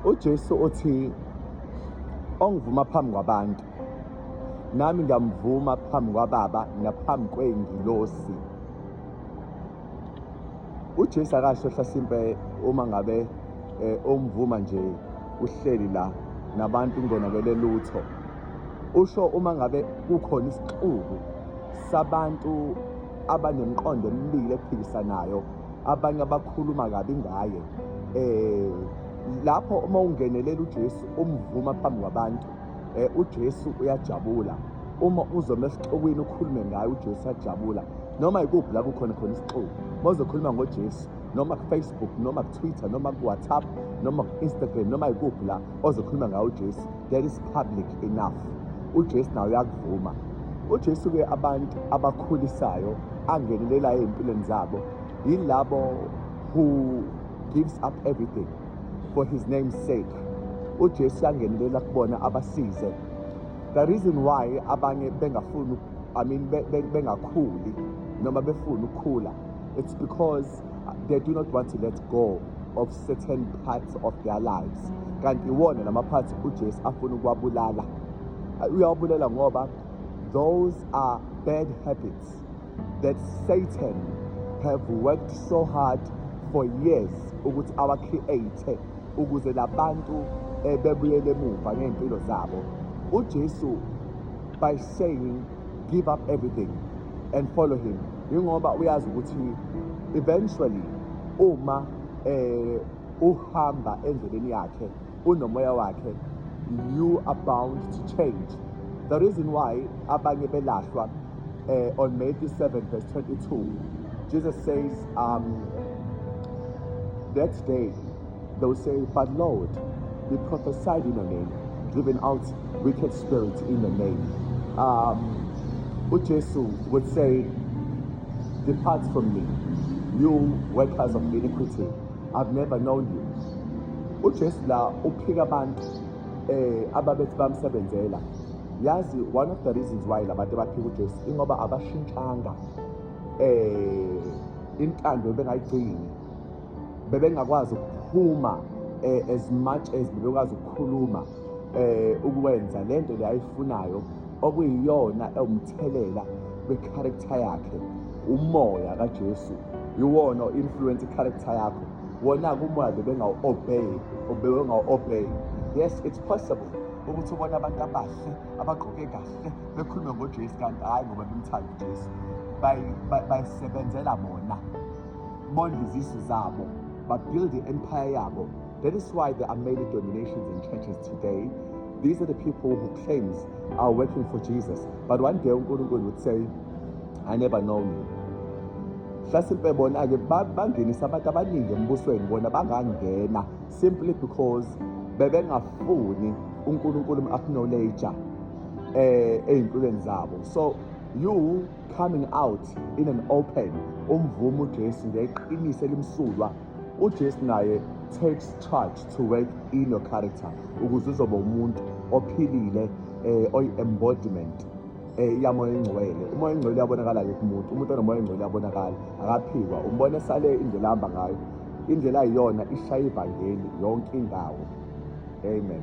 uJesu uthi ongivuma phambi kwabantu nami ngiyamvuma phambi kwababa naphambi kwey'ngilosi uJesu akasho hlasimpe uma ngabe eh, umvuma nje uhleli la nabantu ungonakele lutho usho uma ngabe kukhona isixuku sabantu abanemqondo emibili ephikisanayo abanye abakhuluma kabi ngaye eh lapho uma ungenelela uJesu umvuma phambi kwabantu eh uJesu uyajabula uma uzoma esixukwini ukhulume ngaye uJesu ajabula noma ikuphi la kukhona khona isixuku mozokhuluma ngoJesu noma ku-Facebook noma ku-Twitter noma ku-WhatsApp noma ku-Instagram noma ikuphi la ozokhuluma ngawo uJesu that is public enough uJesu nawe uyakuvuma uJesu ke abantu abakhulisayo angenelelayo empilweni zabo yilabo who gives up everything for his name's sake uJesu yangenelela kubona abasize the reason why abanye bengafuni i mean bengakhuli noma befuna ukukhula it's because they do not want to let go of certain parts of their lives mm. kanti iwona lama parts uJesu afuna ukuwabulala uyawabulala ngoba those are bad habits that Satan have worked so hard for years ukuthi awa create ukuze labantu eh, bebuyele emuva ngempilo zabo uJesu by saying give up everything and follow him yingoba uyazi ukuthi eventually uma eh uhamba endleleni yakhe unomoya wakhe you are bound to change the reason why abanye belahlwa eh, on Matthew 7 verse 22 Jesus says um that day They will say, But Lord, we prophesied in your name, driven out wicked spirits in your name. Um, Ujesu would say, Depart from me, you workers of iniquity. I've never known you. Ujesu la uphika abantu eh ababethi bamsebenzela. Yazi one of the reasons why labantu baphika uJesu ingoba abashintshanga eh intando bengayigcini bebengakwazi ukuphuma eh, as much as bebekwazi ukukhuluma eh ukwenza lento le ayifunayo okuyiyona ewumthelela kwecharacter yakhe umoya kaJesu iwona influence icharacter yakho wona kumoya bebengawu-obey bebengawu-obey yes it's possible ukuthi ubona abantu abahle abagqoke kahle bekhulume ngojesu kanti hhayi ngoba bemthanda ujesu bayisebenzela bona bondle izisu zabo babuild i-empire yabo that is why there are many dominations in churches today these are the people who claims are working for jesus but one day unkulunkulu would say i never know you hlasimpe bona-ke bangenisa abantu abaningi embusweni bona bangangena simply because bebengafuni unkulunkulu um-acknowledge um eh, ey'mpilweni zabo so you coming out in an open umvumo uJesu ngeqiniso elimsulwa uJesu naye takes charge to work in your character ukuze uzoba umuntu ophilile eh oyi-embodiment eh yamoya engcwele umoya engcwele uyabonakala ke kumuntu umuntu onomoya engcwele uyabonakala akaphikwa umbona esale indlela ahamba ngayo indlela ayiyona ishaya ivangeli yonke indawo amen